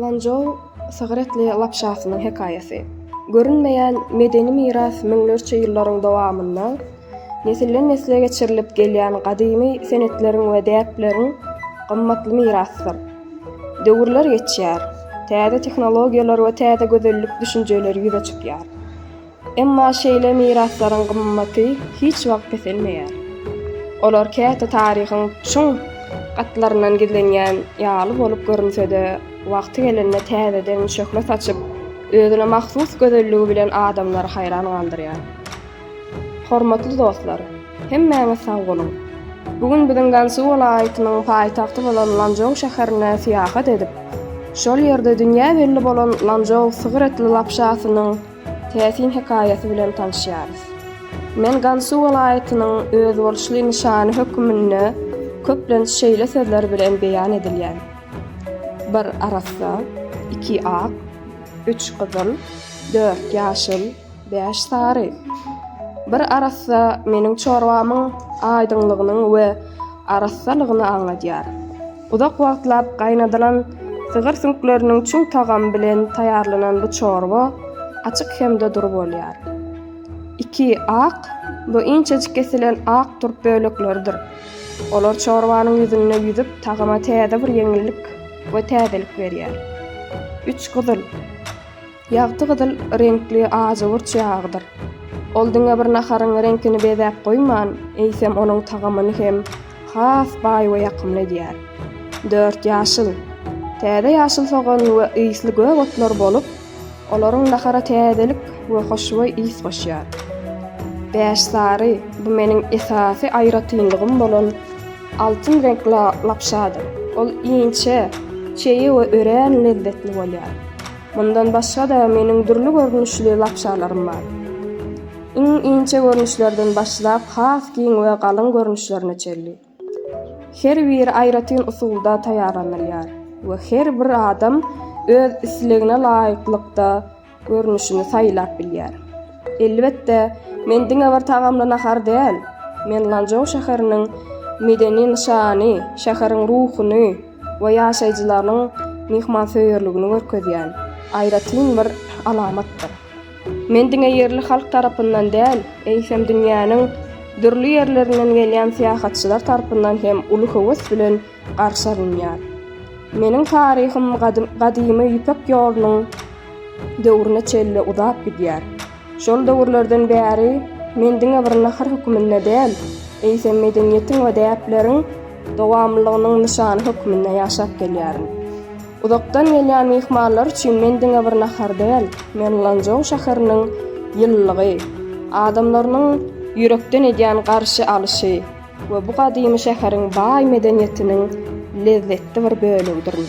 Lanzhou sygyr etli lapşasynyň hekaýasy. Görünmeýän medeni miras müňlerçe ýyllaryň dowamynda nesilden-nesle geçirilip gelýän gadymy senetleriň we däpleriň gymmatly mirasydyr. Döwürler geçýär, täze tehnologiýalar we täze gözellik düşünjeleri ýüze çykýar. Emma şeýle miraslaryň gymmaty hiç wagt peselmeýär. Olar käte taryhyň çuň gatlaryndan gizlenýän ýaly bolup görünse-de, wagty gelende täzeden şöhle saçyp, özüne mahsus gözelligi bilen adamlary haýran galdyrýar. Hormatly dostlar! Hemmäňiz sag boluň! Bu gün biziň Gansu welaýatynyň paýtagty bolan Lanžou şäherine syýahat edip, şol ýerde dünýä belli bolan Lanžou sygyr etli lapşasynyň täsin hekaýasy bilen tanyşýarys. Men Gansu welaýatynyň özboluşly nyşany höküminde köplenç şeýle sözler bilen beýan edilýän, Bir arassa, iki ak, üç gyzyl, dört ýaşyl, Bäş sary. Bir arassa meniň çorbamyň aýdyňlygynyň we arassalygyny aňladýar. Uzak wagtlap gaýnadylan sygyr süňkleriniň çüň tagamy bilen taýýarlanan bu çorba açyk hem-de dury bolýar. Iki, ak. Bu inçejik kesilen ak turp bölekleridir. Olar çorbanyň ýüzünde ýüzüp, tagama täze bir ýeňillik we täzelik berýär. Üç, gyzyl. Ýagty gyzyl reňkli ajygurç ýagydyr. Ol diňe bir naharyň reňkini bezäp goýman, eýsem onuň tagamyny hem has baý we ýakymly edýär. Dört ýaşyl. Täze ýaşyl sogan we ysly gök otlar bolup, olaryň nahara täzelik we hoşboý ys goşýar. Bäş sary, bu meniň esasy aýratynlygym bolan altyn reňkli lapşadyr. Ol inçe, çeýe we örän lezzetli bolýar. Mundan başga-da meniň dürli görnüşli lapşalarym bar. Iň inçe görnüşlerden başlap has giň we galyň görnüşlerine çenli. Her biri aýratyn usulda taýýarlanylýar we her bir adam öz islegine laýyklykda görnüşini saýlap bilýär. Elbetde, men diňe bir tagamly nahar däl, men Lanzhou şäheriniň medeni nyşany, şäheriň ruhuny, we ýaşaýjylarynyň myhmansöýerligini görkezýän aýratyn bir alamatdyr. Men diňe ýerli halk tarapyndan däl, eýsem dünýäniň dürli ýerlerinden gelýän syýahatçylar tarpyndan hem uly höwes bilen garşy alynýar. Meniň taryhym Gadymy Ýüpek ýolunyň döwrüne çenli uzap gidýär. Şol döwürlerden bäri men diňe bir nahar hökmünde däl, eýsem medeniýetiň we däpleriň dowamlylygynyň nyşany hökmünde ýaşap gelýärin. Uzakdan gelýän myhmanlar üçin men diňe bir nahar däl, men Lanzhou şäheriniň ýylylygy, adamlarynyň ýürekden edýän garşy alyşy we bu gadymy şäheriň baý medeniýetiniň lezzetli bir bölegidirin.